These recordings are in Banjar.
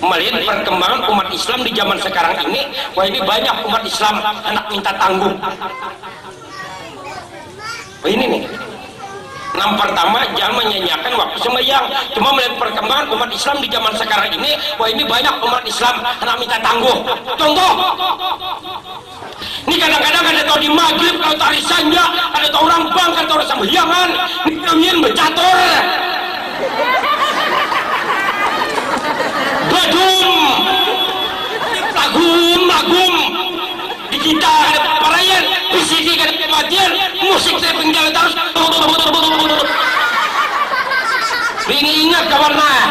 Malihat parkembangan umat Islam di jaman sakarang ini, wahini banyak umat Islam handak minta tanggung. Wahini nih, nang partama jangan manyanyiakan waktu sambahyang. Cuma malihat parkembangan umat Islam di jaman sakarang ini, wahini banyak umat Islam handak minta tanggung. Contoh. Ni kadang-kadang kada tahu di magrib kalau tari sanja kada tahu urang bang kada tahu urang sambahyangan ni nangin bacatur badum lagum lagum di kita kada paraian bisiki kada pamatian musik tapping jalan tarus ringi ingat kawan nah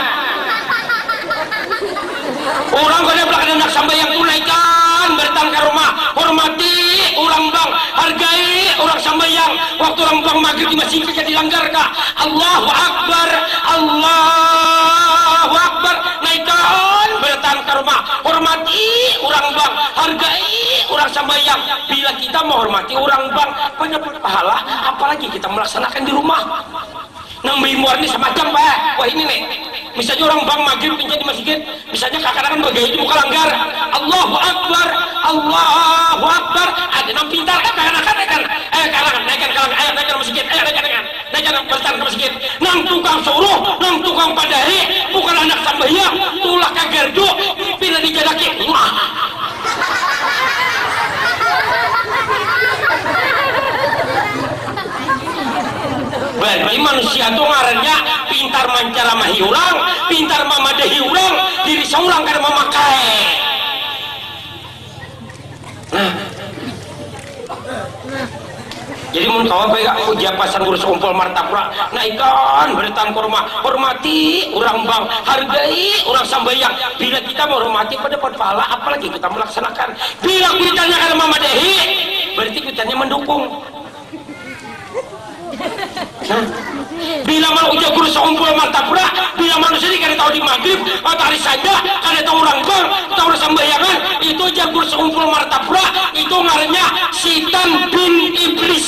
Urang kadaplah kada handak sambahyang tunaikan datang ka rumah, hormati urang bang, hargai urang sambahyang, waktu urang bang magrib di masjid kaja dilanggar ka, Allahu Akbar, Allahu Akbar, naikan barataan ka rumah, hormati urang bang, hargai urang sambahyang, bila kita mahormati urang bang, banyak pahala apalagi kita malaksanakan di rumah. Nang baimbuar ni samacam pa wahini ne, misalnya urang bank magrib inya di masigit, misalnya kakanakan bagaya di muka langgar, Allahu Akbar, Allahu Akbar, ada nang pintar, eh kakanakan naikan, eh kakanakan naikan ka langgar, ayo naikan ka masigit, ayo naikan naikan, naikan baritaan ka masigit, nang tukang suruh, nang tukang padari, bukan handak sambahyang, tulak ka gardu, pina di jadaki, Muaah. Barni manusia tu ngarannya pintar mancaramahi urang, pintar mamadahi urang, diri saurang kada mamakai. Nah. Jadi mun kawa baik aku japa sanggurus kumpul martapura, naikan baritaan ka rumah, hormati urang bang, hargai urang sambayang, bila kita mahormati badapat pahala apalagi kita malaksanakan, bila kuitannya kada mamadahi, berarti kuitannya mandukung. Bila mana ujar guru sakumpul martabrak, bila manusia ni kada tahu di magrib atau hari sanda, kada tahu urang gor, kada tahu urang sambahyangan, itu ujar guru sakumpul martabrak, itu ngarannya sitan bin iblis.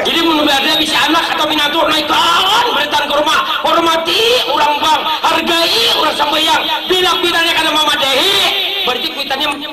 Jadi mun bade bisi anak atau minantu naik kawan baritaan ka rumah, hormati urang bang, hargai urang sambayang, bila kuitannya kada mamadahi, bararti kuitannya.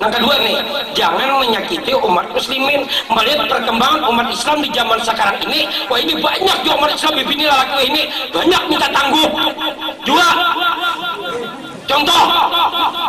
Nang kadua ni, jangan manyakiti umat muslimin. Malihat parkembangan umat islam di jaman sakarang ini, wahini banyak jua umat islam bibini lalaki wahini banyak minta tangguh jua. Contoh,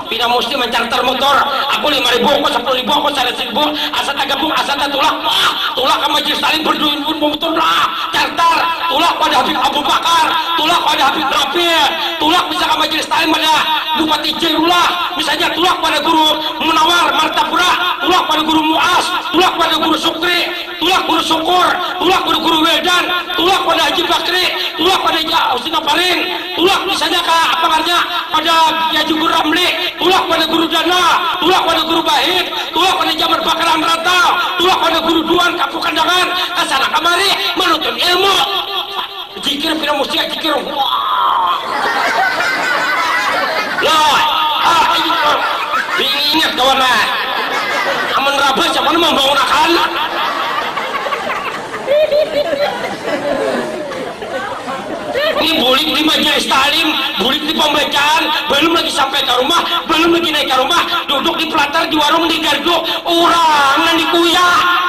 pina musti mancarter mutur, aku lima ribu, aku sapuluh ribu, aku saratus ribu, asa tagabung, asa tatulak, bah, tulak ka majelis talim berduit pun bamutur bah, carter, tulak pada habib abu bakar, tulak pada habib rafiq, tulak bisa ka majelis talim pada bupati jairullah. Misalnya, tulak pada guru Munawar, Martapura, tulak pada guru Muaz, tulak pada guru Sukri, tulak guru Sukur, tulak pada guru Wildan, tulak pada Haji Bakri, tulak pada Haji Husin Taparin, tulak misalnya ka apa ngarannya pada Haji Guru Ramli, tulak pada guru Dana, tulak pada guru Bahit, tulak pada Haji Amar Bakar Hanrantau, tulak pada guru Duan Kampung Kandangan, kasana kamari manuntut ilmu. Jikir pina mustiak jikir Loi Diingat kawan nah Amun rabah siapa nang mambangun akan Ni bulik di majelis taalim bulik di pambacaan balum lagi sampai ka rumah balum lagi naik ka rumah duduk di pelatar di warung di gardu urang nang dikuyak.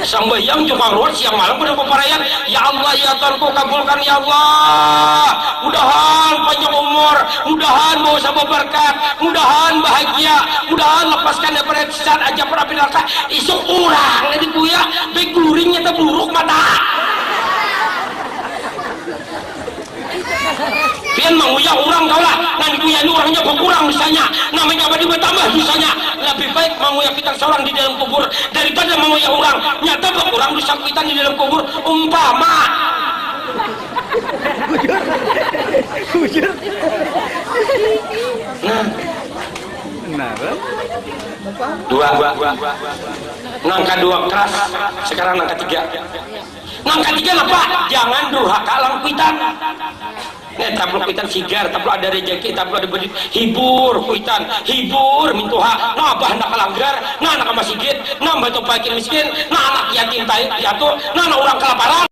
Sambahyang jua kaluar siang malam kada baparaian. Ya Allah ya Tuhanku kabulkan ya Allah. Mudahan panjang umur, mudahan bawa sabuah barkat, mudahan bahagia, mudahan lapaskan daripada siksaan ajab wan api naraka. Isuk urang nih dikuyak, baik guring nyata buruk mata. Pian manguyah urang kaulah, nang dikuyah ni urangnya bakurang dosanya, nang manyabah ni batambah dosanya. Labih baik manguyah kuitan saurang di dalam kubur daripada manguyah urang, nyata bakurang dosa kuitan di dalam kubur. Umpama. Nah. Dua. Nang kadua keras, sekarang nang katiga. Nang katiga napa? Jangan durhaka lawan kuitan. Nah, taplok kuitan sigar, taplok ada rejeki, taplok ada beduit, hibur kuitan, hibur mintuha, nah abah handak ka langgar, nah handak ka masigit, nah bantu pakin miskin, nah anak yatim piatu, nah handak urang kalaparan.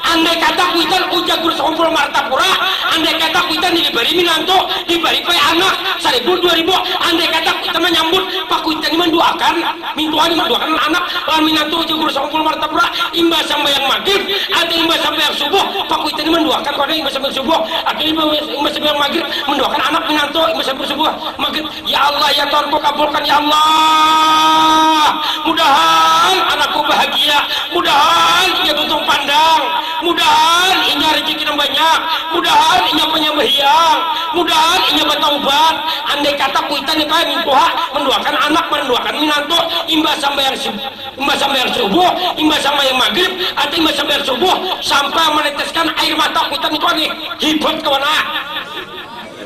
Andai kata kuitan ujar guru sekumpul martapura, andai kata kuitan dilibari minantu, dibari pae anak, saribu dua ribu, andai kata kuitan manyambut, pakuitan ni manduakan. Mintuhan manduakan anak lawan minantu ujar Guru Sangkul Martapura imbah sambahyang magrib atau imbah sambahyang subuh, pakuitan ni manduakan pang imbah sambahyang subuh atau imbah sambahyang magrib, manduakan anak minantu imbah sambahyang subuh, magrib, ya Allah ya Tuhanku kabulkan ya Allah mudahan anakku bahagia, mudahan inya tuntung pandang, mudahan inya rejeki nang banyak, mudahan inya panyambahyang. Mudahan inya bataubat, andai kata kuitan nih kaya mingkuha manduakan anak, manduakan minantu, imbah sambahyang subuh, imbah sambahyang subuh, imbah sambahyang magrib, atau imbah sambahyang subuh sampai maneteskan air mata kuitan nih kua nih, hibat kawan ah.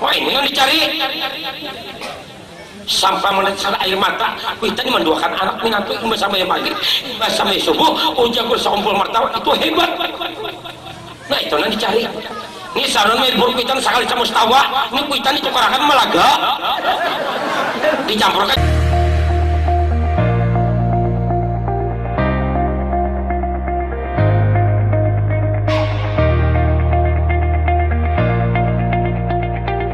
Wah ini nang dicari. Sampai manitisan air mata, kuitan ni manduakan anak minantu imbah sambahyang magrib, imbah sambahyang subuh, ujar ku saumpul martawa, itu hebat. Nah itu nang dicari. Ni saran melbur kuitan sakali samustawa, ni kuitan ditukarakan malaga, dicampurakan.